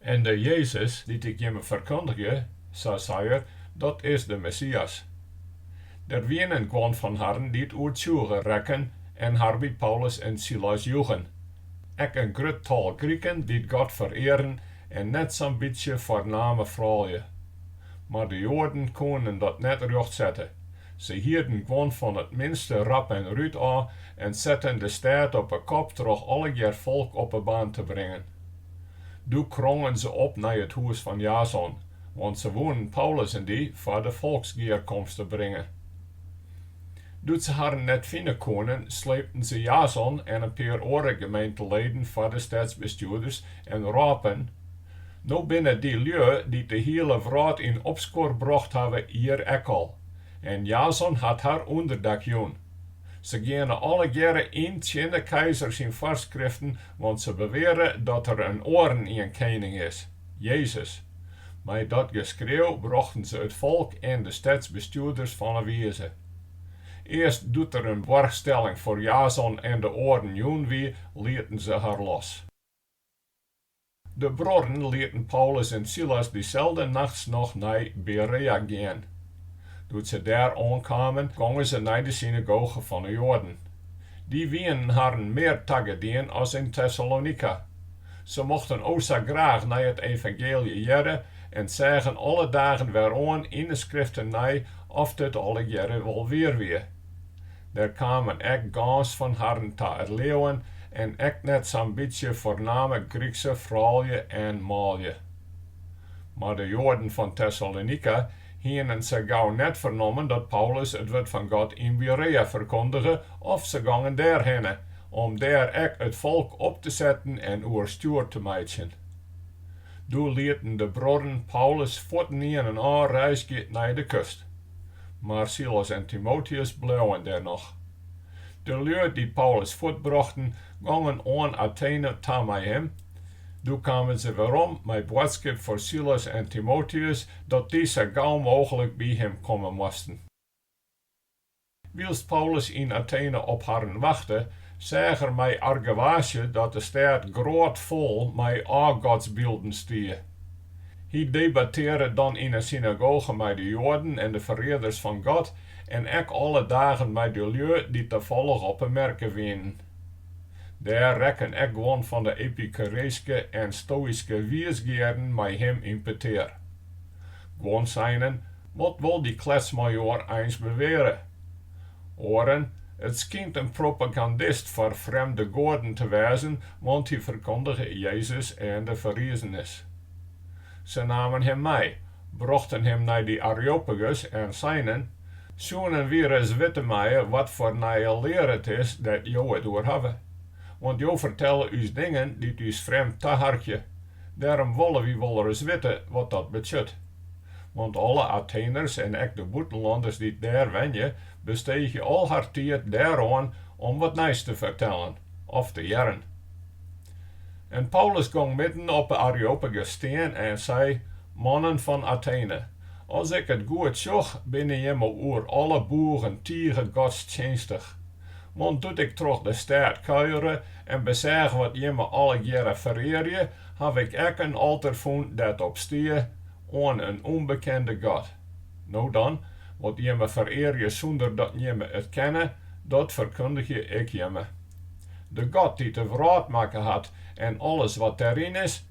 En de Jezus dy't ik jimme ferkundigje, sa sei er, dat is de Messias. Der wienen guon fan harren dy't oertsjûge rekken en har by Paulus en Silas joegen, ek in grut tal Griken dy't God ferearen en net sa'n bytsje foarname froulju. Mar de Joaden koenen dat net rjocht sette, se hierden guon fan it minste rap en rút ôf en setten de stêd op 'e kop troch allegear folk op 'e baan te bringen. Doe krongen se op nei it hûs fan Jason, want se woenen Paulus en dy foar de folksgearkomste bringe. Doe't se harren net fine koenen, sleepten se Jason en in pear oare gemeenteleden foar de stedsbestjoerders en rôpen, No binne dy lju dy't de hiele wrâld yn opskuor brocht hawwe, hjir ek al, en Jason hat har ûnderdak jûn. Se geane allegearre yn tsjin de keizer syn foarskriften, want se beweare dat der in oarenien kening is, Jezus. Mei dat geskreau brochten se it folk en de stedsbestjoerders fan 'e wize. Earst doe't der in boarchstelling foar Jason en de oaren jûn wie, lieten se har los. De bruorren lieten Paulus en Silas dyselde nachts noch nei Berea gean. Doe't se dêr oankamen, gongen se nei de synagoge fan 'e Joaden. Dy wienen harren mear tagedien as yn Tessalonika. Se mochten o sa graach nei it evangeelje hearre en seagen alle dagen wer oan yn 'e Skriften nei oft it allegearre wol wier wie. Der kamen ek gâns fan harren ta it leauwen en ek net sa'n bytsje foarname Grykse froulju en manlju. Mar de Joaden fan Tessalonika hienen sa gau net fernommen dat Paulus it wurd fan God yn Berea ferkondige of se gongen dêrhinne, om dêr ek it folk op te setten en oerstjoer te meitsjen. Doe lieten de bruorren Paulus fuortynienen ôfreizgje nei de kust. mar Silas en Timoteus bleauen dêr noch. De lju dy't Paulus fuortbrochten, gongen oan Atene ta mei him. Doe kamen se werom mei boadskip foar Silas en Timoteus dat dy sa gau mooglik by him komme moasten. Wylst Paulus yn Atene op harren wachte, seach er mei argewaasje dat de stêd grôtfol mei ôfgodsbylden stie. Hy debattearre dan yn 'e synagoge mei de Joaden en de ferearders fan God en ek alle dagen mei de lju dy't tafollich op 'e merke wienen. Dêr rekken ek guon fan de epikureeske en stoïske wiisgearen mei him yn petear. Guon seinen Wat wol dy kletsmajoar eins beweare. Oaren, It skynt in propagandist foar frjemde goaden te wêzen, want hy ferkondige Jezus en de ferrizenis. Se namen him mei, brochten him nei dy Areopagus en seinen, Soenen wy ris witte meie wat foar nije lear it is dêr't jo it oer hawwe. Want jo fertelle ús dingen dy't ús frjemd taharkje. Dêrom wolle wy wol ris witte wat dat betsjut. Want alle Atheners en ek de bûtenlanners dy't dêr wenje, besteegje al har tiid dêroan om wat nijs te fertellen of te hearren. En Paulus gong midden op 'e Areopagus stean en sei, Mannen fan Athene, as ik it goed sjoch, binne jimme oer alle boegen tige godstsjinstich. Want doe't ik troch de stêd kuiere en beseach wat jimme allegearre ferearje, haw ik ek in alter fûn dêr't op stie, Oan in ûnbekende God. No dan, wat jimme ferearje sûnder dat jimme it kenne, dat ferkundigje ik jimme. De God dy't de wrâld makke hat en alles wat dêryn is,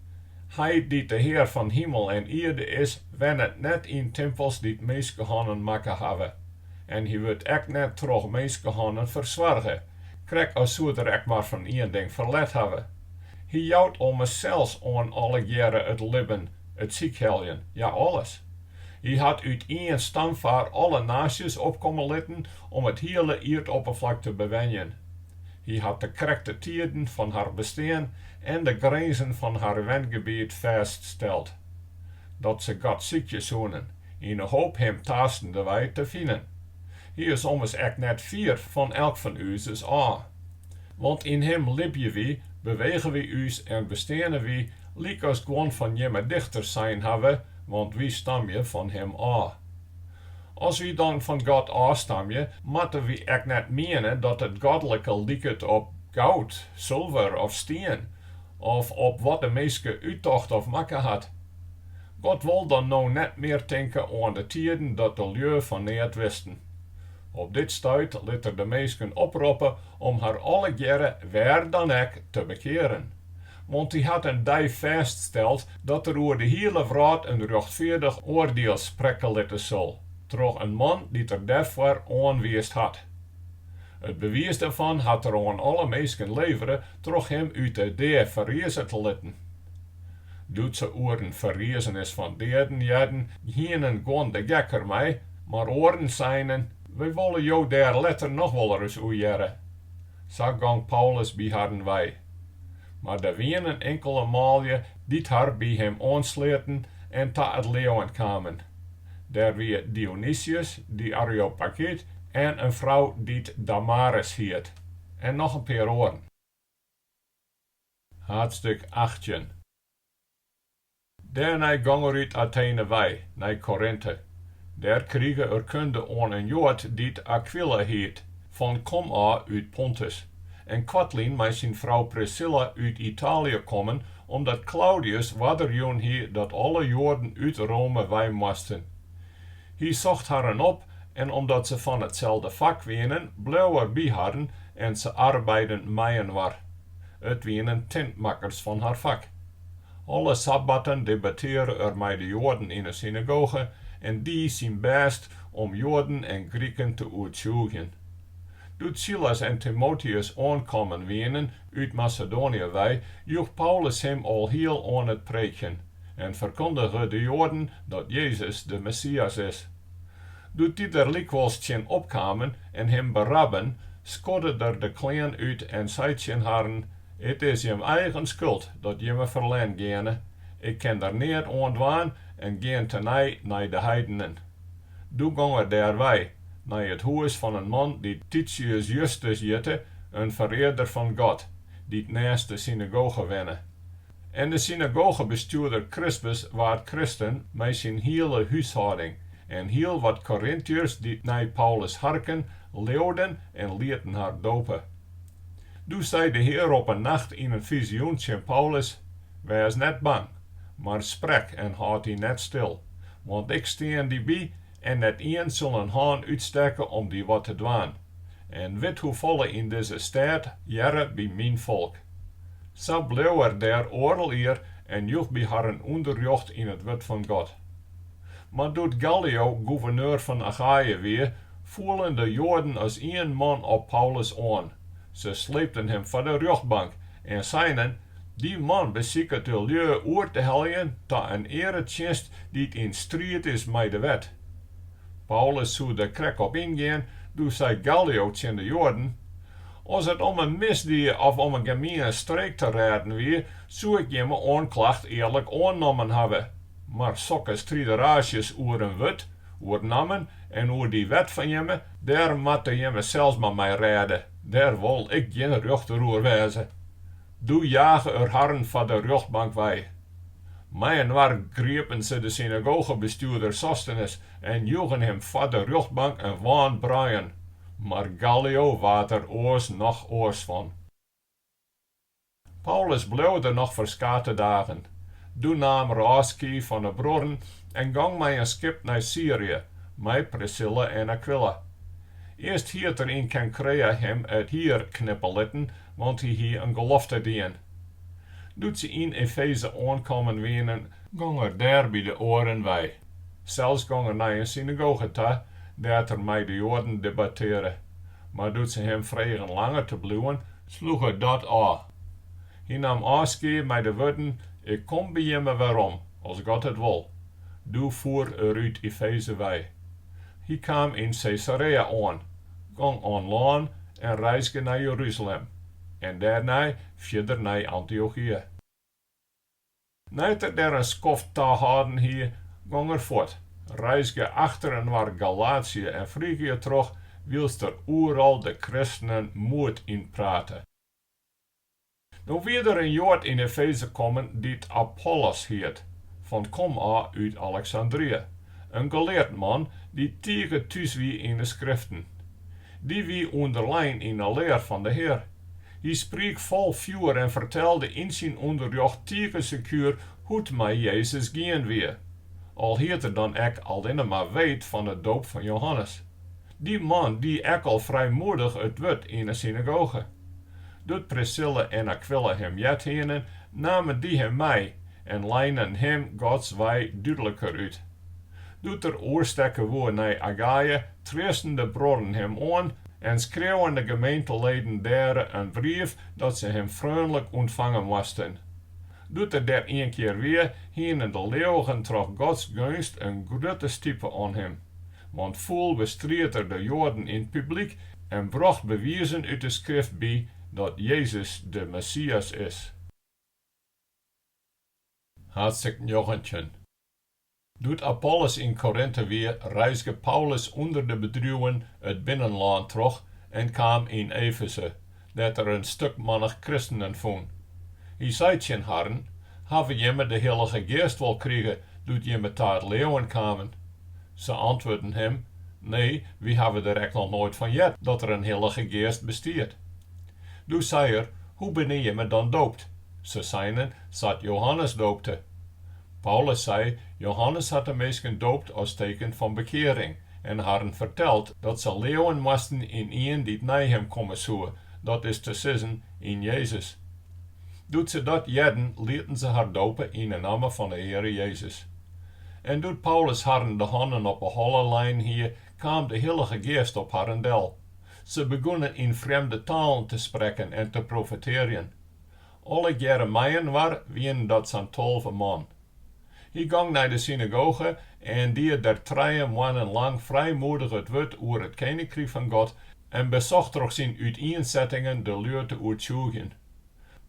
Hy dy't de Hear fan himel en ierde is, wennet net yn timpels dy't minskehannen makke hawwe, en hy wurdt ek net troch minskehannen fersoarge, krekt as soed er ek mar fan ien ding ferlet hawwe. Hy jout ommers sels oan allegearre it libben, it sykheljen, ja alles. Hy hat út ien stamfaar alle naasjes opkomme litten om it hiele ierdopperflak te bewenjen. Hy hat de krekte tiden fan har bestean en de grinzen fan har wengebiet fêststeld. Dat se God sykje soenen, yn 'e hoop Him taastendewei te finen. Hy is ommers ek net fier fan elk fan uzes ôf. Want yn Him libje wy, bewege wy ús en besteane wy, lykas guon fan jimme dichters sein hawwe, want wy stamje fan Him ôf. As wy dan fan God ôfstamje, moatte wy ek net miene dat it godlike liket op goud, sulver of stien, of op wat de minske úttocht of makke hat. God wol dan no net mear tinke oan de tiden dat de lju fan neat wisten. Op dit stuit lit er de minsken oproppe om har allegearre, wêr dan ek, te bekearen. Want hy hat in dei fêststeld dat er oer de hiele wrâld in rjochtfeardich oardiel sprekke litte sil, troch in man dy't er dêrfoar oanwiisd hat. It bewiis dêrfan hat er oan alle minsken levere troch him út de dea ferrize te litten. Doe't se oer in ferriezenis fan deaden hearden, hienen guon de gek der mei, mar oaren seinen, We wolle jo dêr letter noch wolris oer hearre. Sa gong Paulus by harren wei. Mar der wienen inkele manlju dy't har by him oansleaten en ta it leauwen kamen. Dêr wie Dionysius de Areopagyt en in frou dy't Damaris hiet, en noch in pear oaren. Haadstik achttjin. Dêrnei gong er út Athene wei nei Korinthe. Dêr krige er kunde oan in Joad dy't Akwila hiet, fan komôf út Pontus, en koartlyn mei syn frou Priscilla út Itaalje kommen, omdat Klaudius oarder jûn hie dat alle Joaden út Rome wei moasten. Hy socht harren op en omdat se fan itselde fak wienen, bleau er by harren en se arbeidden mei-inoar. It wienen tintmakkers fan har fak. Alle sabbatten debattearre er mei de Joaden yn 'e synagoge en die syn bêst om Joaden en Griken te oertsjûgjen. Doe't Silas en Timoteus oankommen wienen út Masedoanje wei, joech Paulus him alhiel oan it preekjen. en ferkundige de Joaden dat Jezus de Messias is. Doe't dy der lykwols tsjin opkamen en him berabben, skodde er de klean út en sei tsjin harren, It is jim eigen skuld dat jimme ferlern geane, ik kin der neat oan dwaan en gean tenei nei de heidenen. Doe gong er dêrwei, nei it hûs fan in man dy't Titius Justus hjitte, in ferearder fan God, dy't nêst de synagoge wenne. En de synagogebestjoerder Krispus waard kristen mei syn hiele húshâlding, en hiel wat Korintiërs dy't nei Paulus harken, leauden en lieten har dope. Doe sei de Hear op in nacht yn in fizioen tsjin Paulus, Wês net bang, mar sprek en hâld dy net stil, want ik stean dy by en net ien sil in hân útstekke om dy wat te dwaan, en wit hoefolle yn dizze stêd hearre by myn folk. Sa bleau er dêr oardel jier en joech by harren ûnderrjocht yn it wurd fan God. Mar doe't Gallio gûverneur fan Achaje wie, foelen de Joaden as ien man op Paulus oan. Se sleepten him foar de rjochtbank en seinen, Dy man besiket de lju oer te heljen ta in earetsjinst dy't yn striid is mei de wet. Paulus soe der krekt op yngean, doe sei Gallio tsjin de Joaden, As it om in misdie of om in gemiene streek te rêden wie, soe ik jimme oanklacht earlik oannommen hawwe, mar sokke strideraasjes oer in wurd, oer nammen en oer dy wet fan jimme, dêr moatte jimme sels mar mei rêde, dêr wol ik gjin rjochter oer wêze. Doe jage er harren foar de rjochtbank wei. Mei-inoar griepen se de synagogebestjoerder Sostenes en joegen him foar de rjochtbank in wan bruien. Mar Gallio waard der oars noch oars fan. Paulus bleau der noch ferskate dagen. Doe naam er ôfskie fan 'e bruorren en gong mei in skip nei Syrië, mei Prisilla en Akwila. Earst hied er yn Kenkrea him it hier knippe litten, want hy hie in gelofte dien. Doe't se yn Efeze oankommen wienen, gong er dêr by de oaren wei, sels gong er nei in synagoge ta dêr't er mei de Joaden debattearre, mar doe't se him fregen langer te bliuwen, sloech er dat ôf. Hy naam ôfskie mei de wurden, Ik kom by jimme werom, as God it wol. Doe foer er út Efeze wei. Hy kaam yn Sesarea oan, Gong oan lân en reizge nei Jeruzalem en dêrnei fierder nei Antiochië. Nei't er dêr in skoft tahâlden hie, gong er fuort, reizge achterinoar Galatië en Frygië troch, wylst er oeral de kristenen moed ynprate. No wie der in Joad yn Efeze kommen dy't Apollos hiet, fan komôf út Aleksandrië, in geleard man dy't tige thús wie yn 'e Skriften. Dy wie ûnderlein yn 'e lear fan de Hear. Hy spriek fol fjoer en fertelde yn syn ûnderrjocht tige sekuer hoe't it mei Jezus gien wie, al hied er dan ek allinne mar weet fan 'e doop fan Johannes. Dy man die ek al frijmoedich it wurd yn 'e synagoge. Doe't Prisilla en Akwila him heard hienen, namen dy him mei en leinen him Gods wei dúdliker út. Doe't er oerstekke woe nei Achaïa, treasten de bruorren him oan en skreauwen de gemeenteleden dêr in brief dat se him freonlik ûntfange moasten. Doe't er dêr ienkear wie, hienen de leauwigen troch Gods geunst in grutte stipe oan him. Want fûl bestried er de Joaden yn 't publyk en brocht bewizen út 'e Skrift by dat Jezus de Messias is. Haadstik njoggentjin. Doe't Apollos yn Korinte wie, reizge Paulus ûnder de bedriuwen it binnenlân troch en kaam yn Efeze. dêr't er in stikmannich kristenen fûn. Hy sei tsjin harren, Hawwe jimme de Hillige Geast wol krige doe't jimme ta it leauwen kamen? Se antwurden him, Nee, wy hawwe der ek noch noait fan heard dat der in Hillige Geast bestiet. Doe sei er, Hoe binne jimme dan doopt? Se seinen, Sa't Johannes doopte. Paulus sei, Johannes hat de minsken doopt as teken fan bekearing en harren ferteld dat se leauwen moasten yn ien dy't nei him komme soe, dat is te sizzen, yn Jezus. Doe't se dat hearden, lieten se har dope yn 'e namme fan 'e Heare Jezus. En doe't Paulus harren de hannen op 'e holle lein hie, kaam de Hillige Geast op harren del. Se begûnen yn frjemde talen te sprekken en te profetearjen. Allegearre mei-inoar wienen dat sa'n tolve man. Hy gong nei de synagoge en die der trije moannen lang frijmoedich it wurd oer it keninkryk fan God en besocht troch syn útiensettingen de lju te oertsjûgjen.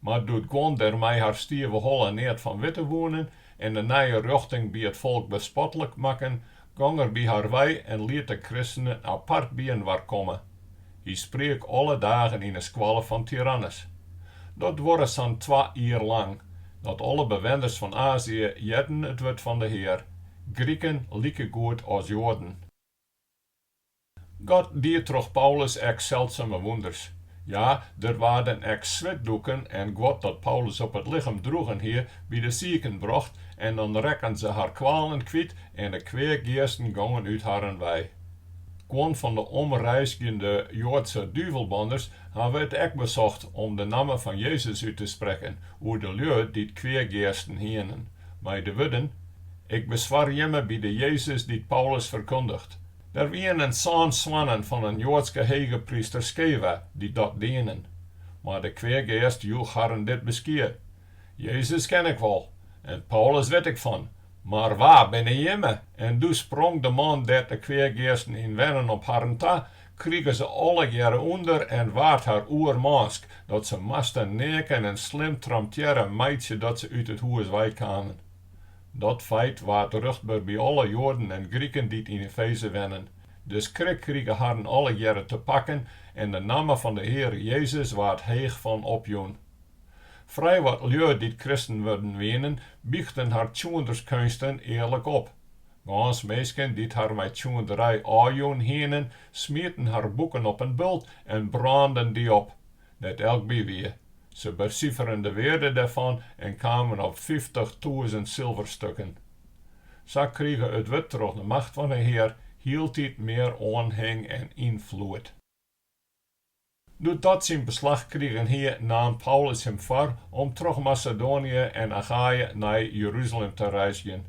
Mar doe't guon der mei har stive holle neat fan witte woenen en de nije rjochting by it folk bespotlik makken, gong er by har wei en liet de kristenen apart byinoar komme. Hy spriek alle dagen yn 'e skoalle fan Tyrannus. Dat duorre sa'n twa jier lang, dat alle bewenners fan Azië hearden it wurd fan de Hear, Griken likegoed as Joaden. God die troch Paulus ek seldsume wûnders. Ja, der waarden ek switdoeken en guod dat Paulus op it lichem droegen hie, by de siken brocht en dan rekken se har kwalen kwyt en de kweageasten gongen út harren wei. Guon fan de omreizgjende Joadske duvelbanners hawwe it ek besocht om de namme fan Jezus út te sprekken oer de lju dy't kweageasten hienen, mei de wurden, Ik beswar jimme by de Jezus dy't Paulus ferkundiget. Der wienen sân soannen fan in Joadske hegepryster Skeva dy't dat dienen. Mar de kweageast joech harren dit beskie, Jezus ken ik wol, en Paulus wit ik fan, mar wa binne jimme? En doe sprong de man dêr't de kweageasten yn wennen op harren ta, krige se allegearre ûnder en waard har oermânsk, dat se moasten neaken en slim tramtearre meitsje dat se út it hûs wei kamen. Dat feit waard ruchtber by alle Joaden en Griken dy't yn Efeze wennen. De skrik krige harren allegearre te pakken en de namme fan de Heare Jezus waard heech fan opjûn. Frij wat lju dy't kristen wurden wienen, bychten har tsjoenderskeunsten earlik op. Gâns minsken dy't har mei tsjoenderij ôfjûn hienen, smieten har boeken op in bult en brânden dy op. dêr't elk by wie. Se besiferen de wearde dêrfan en kamen op fyftichtûzen silverstukken. Sa krige it wurd troch de macht fan 'e Hear hieltyd mear oanhing en ynfloed. Doe't dat syn beslach krigen hie, naam Paulus him foar om troch Masedoanië en Achaje nei Jeruzalem te reizgjen.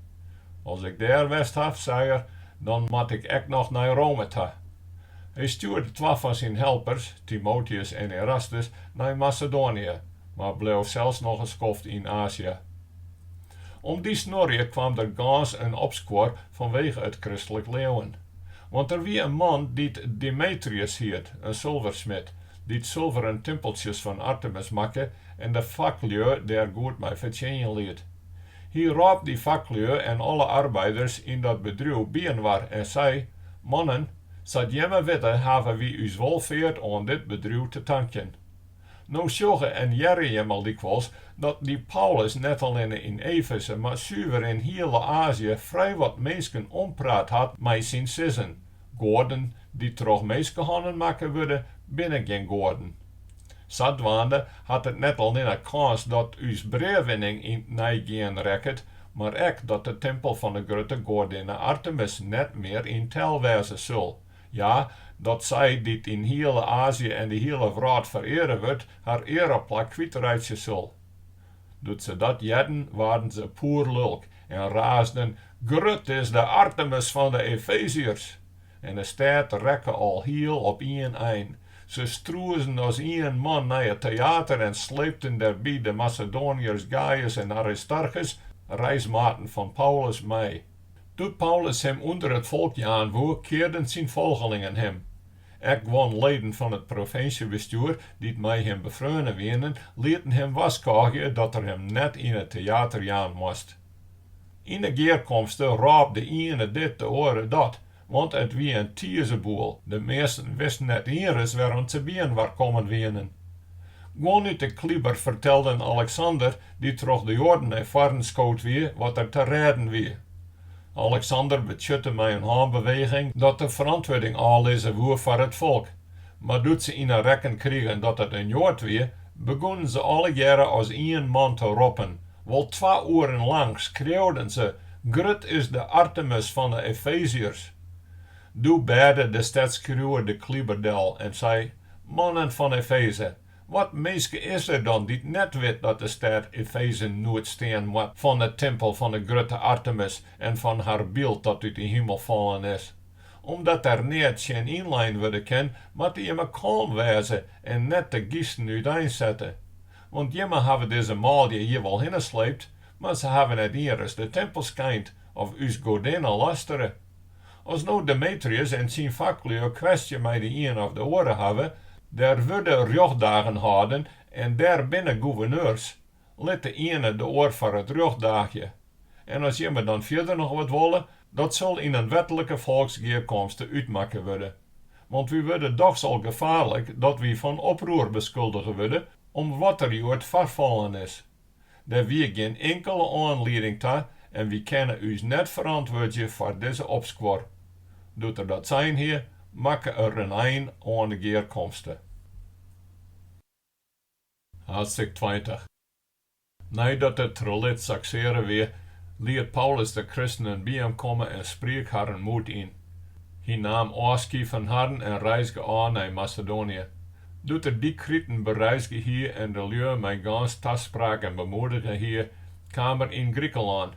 As ik dêr west haw, sei er, dan moat ik ek noch nei Rome ta, Hy stjoerde twa fan syn helpers, Timoteus en Erastus, nei Masedoanië, mar bleau sels noch in skoft yn Azië. Om dy snuorje kwam der gâns in opskuor fanwege it kristlik leauwen. Want der wie in man dy't Demetrius hiet, in sulversmid, dy't sulveren timpeltsjes fan Artemis makke en de faklju dêr goed mei fertsjinjen liet. Hy rôp dy faklju en alle arbeiders yn dat bedriuw byinoar en sei, Mannen, sa't jimme witte hawwe wy ús wolfeart oan dit bedriuw te tankjen. No sjogge en hearre jimme lykwols dat dy Paulus net allinne yn Efeze, mar suver yn hiele Azië frij wat minsken ompraat hat mei syn sizzen, Goaden dy't troch minskehannen makke wurde, binne gjin goaden. Sadwaande hat it net allinne kâns dat ús breawinning yn 't neigean rekket, mar ek dat de timpel fan 'e grutte goadinne Artemis net mear yn tel wêze sil. Ja, dat sy, dy't yn hiele Azië en de hiele wrâld fereare wurdt, har eareplak kwytreitsje sil. Doe't se dat hearden, waarden se poerlulk en raasden, Grut is de Artemis fan 'e Efeziërs! En de stêd rekke alhiel op ien ein, Se strûzen as ien man nei it teäter en sleepten dêrby de Masedoaniërs Gajus en Aristarchus, reismaten fan Paulus, mei. Doe't Paulus him ûnder it folk jaan woe, kearden syn folgelingen him. Ek guon leden fan it provinsjebestjoer, dy't mei him befreone wienen, lieten him warskôgje dat er him net yn it teäter jaan moast. Yn 'e gearkomste rôp de iene dit, de oare dat, Want it wie in tizeboel, de measten wisten net ienris wêrom't se byinoar kommen wienen. Guon út de kliber fertelden Aleksander, dy't troch de Joaden nei foaren skood wie, wat der te rêden wie. Aleksander betsjutte mei in hânbeweging dat er ferantwurding ôflizze woe foar it folk. Mar doe't se yn 'e rekken krigen dat it in Joad wie, begûnen se allegearre as ien man te roppen, Wol twa oeren lang skreauwden se, Grut is de Artemis fan de Efeziërs! Doe bêde de stedsskriuwer de kliber del en sei, Mannen fan Efeze, wat minske is der dan dy't net wit dat de stêd Efeze noed stean moat fan de timpel fan de grutte Artemis en fan har byld dat út de himel fallen is? Omdat der neat tsjin ynlein wurde kin, moatte jimme kâlm wêze en net te gysten úteinsette. Want jimme hawwe dizze manlju hjir wol hinne sleept, mar se hawwe net ienris de timpel skeind of ús goadinne lastere. As no Demetrius en syn faklju in kwestje mei de ien of de oare hawwe, dêr wurde rjochtdagen hâlden en dêr binne gûverneurs, lit de iene de oar foar it rjocht daagje. En as jimme dan fierder noch wat wolle, dat sil yn in wetlike folksgearkomste útmakke wurde. Want wy wurde dochs al gefaarlik dat wy fan oproer beskuldige wurde om wat der hjoed foarfallen is. Der wie gjin inkele oanlieding ta en wy kinne ús net ferantwurdzje foar dizze opskuor. Doe't er dat sein hie, makke er in ein oan de gearkomste. Haadstik tweintich. Neidat it trelit saksearre wie, liet Paulus de kristenen by him komme en spriek harren moed yn. Hy naam ôfskie fan harren en reizge ôf nei Masedoanië. Doe't er dy kriten bereizge hie en de lju mei gâns taspraken bemoedige hie, kaam er yn Grikelân.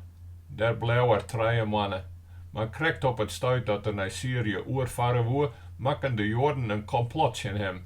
Dêr bleau er trije moanne. Mar krekt op it stuit dat er nei Syrië oerfarre woe, makken de Joaden in komplot tsjin him.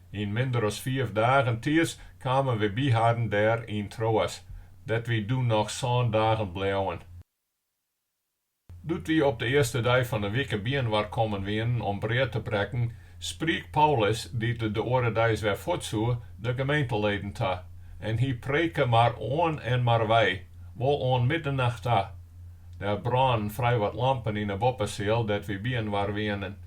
Yn minder as fiif dagen tiids kamen wy by harren dêr yn Troas, dêr't wy doe noch sân dagen bleauen. Doe't wy op de earste dei fan 'e wike byinoar kommen wienen om brea te brekken, spriek Paulus, dy't de oare deis wer fuort soe, de gemeenteleden ta, en hy preke mar oan en mar wei, wol oan middenacht ta. Der brânen frijwat lampen yn 'e boppeseal dêr't wy byinoar wienen.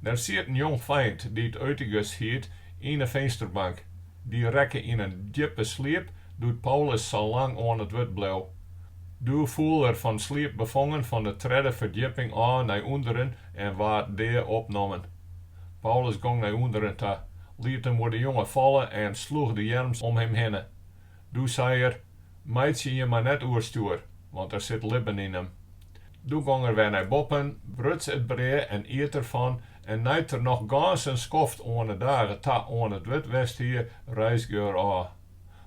Der siet in jongfeint dy't Eutychus hiet yn 'e finsterbank. Dy rekke yn in djippe sliep doe't Paulus sa lang oan it wurd bleau. Doe foel er fan sliep befongen fan 'e tredde ferdjipping ôf nei ûnderen en waard dea opnommen. Paulus gong nei ûnderen ta, liet him oer de jonge falle en sloech de earms om him hinne. Doe sei er, Meitsje jim mar net oerstjoer, want der sit libben yn him. Doe gong er wer nei boppen, bruts it brea en iet der fan, en nei't er noch gâns in skoft oan 'e dage ta oan it wurd west hie, reizge er ôf.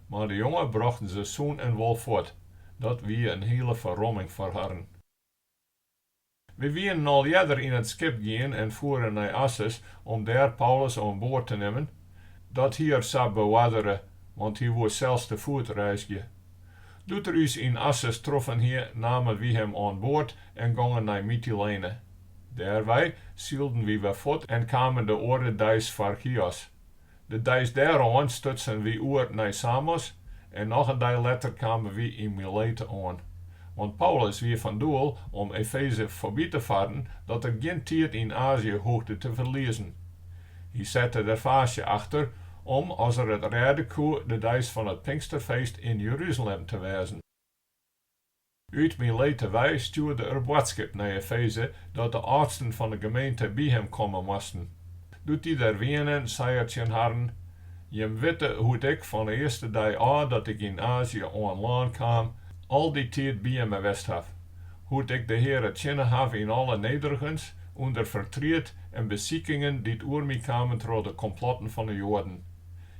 Mar de jonge brochten se sûn en wol fuort. Dat wie in hiele ferromming foar harren. Wy wienen al earder yn it skip gien en foeren nei Assus om dêr Paulus oan board te nimmen. Dat hie er sa beoardere, want hy woe sels te foet reizgje. Doe't er ús yn Assus troffen hie, namen wy him oan board en gongen nei Mytilene. Dêrwei sylden wy wer fuort en kamen de oare deis foar Chios. De deis dêroan stutsen wy oer nei Samos en noch in dei letter kamen wy yn Milete oan. Want Paulus wie fan doel om Efeze foarby te farren dat er gjin tiid yn Azië hoegde te ferliezen. Hy sette der faasje achter om, as er it rêde koe, de deis fan it Pinksterfeest yn Jeruzalem te wêzen. Ut Milete wei stjoerde er boadskip nei Efeze dat de âldsten fan de gemeente by him komme moasten. Doe't dy der wienen, sei er tsjin harren, Jim witte hoe't ik fan 'e earste dei ôf dat ik yn Azië oan lân kaam, al dy tiid by jimme west haw, hoe't ik de Heare tsjinne haw yn alle nederigens, ûnder fertriet en besikingen dy't oer my kamen troch de komplotten fan 'e Joaden.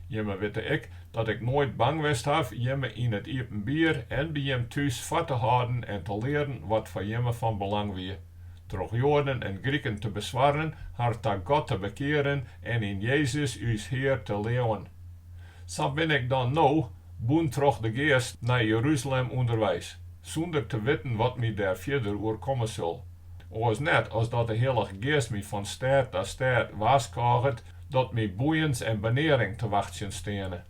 Jimme witte ek dat ik noait bang west haw jimme yn it iepenbier en by jim thús foar te hâlden en te learen wat foar jimme fan belang wie, troch Joaden en Griken te beswarren, har ta God te bekearen en yn Jezus ús Hear te leauwen. Sa bin ik dan no, bûn troch de Geast, nei Jerusalem ûnderweis, sûnder te witten wat my dêr fierder oerkomme sil. Oars net as dat de Hillige Geast my fan stêd ta stêd warskôget dat my boeiens en benearing te wachtsjen steane.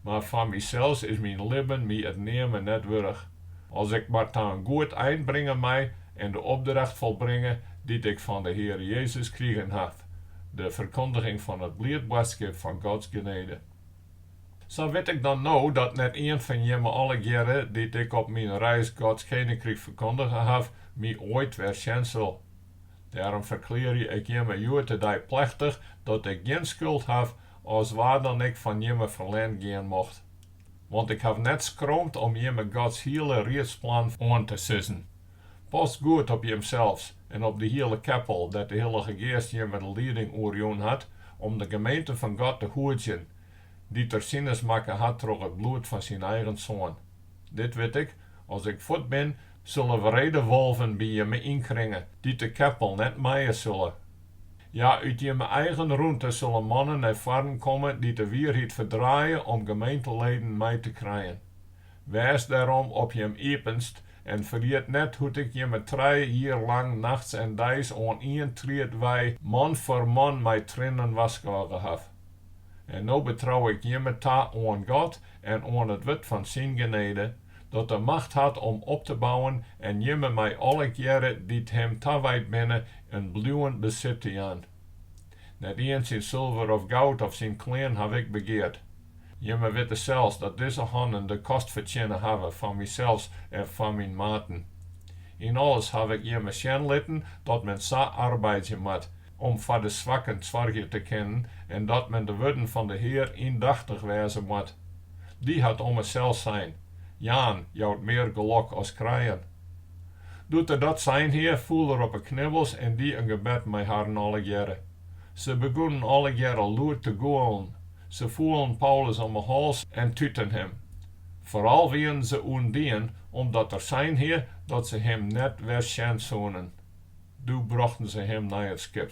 Mar foar mysels is myn libben my it neame net wurdich. As ik mar ta in goed ein bringe mei en de opdracht folbringe dy't ik fan de Heare Jezus krigen haw, de ferkondiging fan it bliid boadskip fan Gods genede. Sa wit ik dan no dat net ien fan jimme allegearre, dy't ik op myn reis Gods keninkryk ferkondige haw, my oait wer sjen sil. Dêrom ferklearje ik jimme hjoed-de-dei plechtich dat ik gjin skuld haw as wa dan ek fan jimme ferlern gean mocht. Want ik haw net skromd om jimme Gods hiele riedsplan oan te sizzen. Past goed op jimsels en op de hiele keppel dêr't de Hillige Geast jimme de lieding oer jûn hat om de gemeente fan God te hoedzjen, dy't Er sinens makke hat troch it bloed fan Syn eigen Soan. Dit wit ik, as ik fuort bin, sille wrede wolven by jimme ynkringe, dy't de keppel net mije sille. Ja, út jimme eigen rûnte sille mannen nei foarren komme dy't de wierheid ferdraaie om gemeenteleden mei te krijen. Wês dêrom op jim iepenst en ferjit net hoe't ik jimme trije jier lang nachts en deis oan ien tried wei man foar man mei triennen warskôge haw. En no betrou ik jimme ta oan God en oan it wurd fan syn genede, dat de macht hat om op te bouwen en jimme mei allegearre dy't him tawijd binne in bliuwend besit te jaan. Net ien syn sulver of goud of syn klean haw ik begeard. Jimme witte sels dat dizze hannen de kost fertsjinne hawwe fan mysels en fan myn maten. Yn alles haw ik jimme sjen litten dat men sa arbeidzje moat, om foar de swakken soargje te kinnen en dat men de wurden fan de Hear yndachtich wêze moat. Dy hat ommers sels sein, Jaan jout mear gelok as krijen. Doe't er dat sein hie, foel er op 'e knibbels en die in gebed mei harren allegearre. Se begûnen allegearre lûd te gûlen. Se foelen Paulus om 'e hals en tuten him. Foaral wienen se ûndien omdat er sein hie dat se him net wer sjen soenen. Doe brochten se him nei it skip.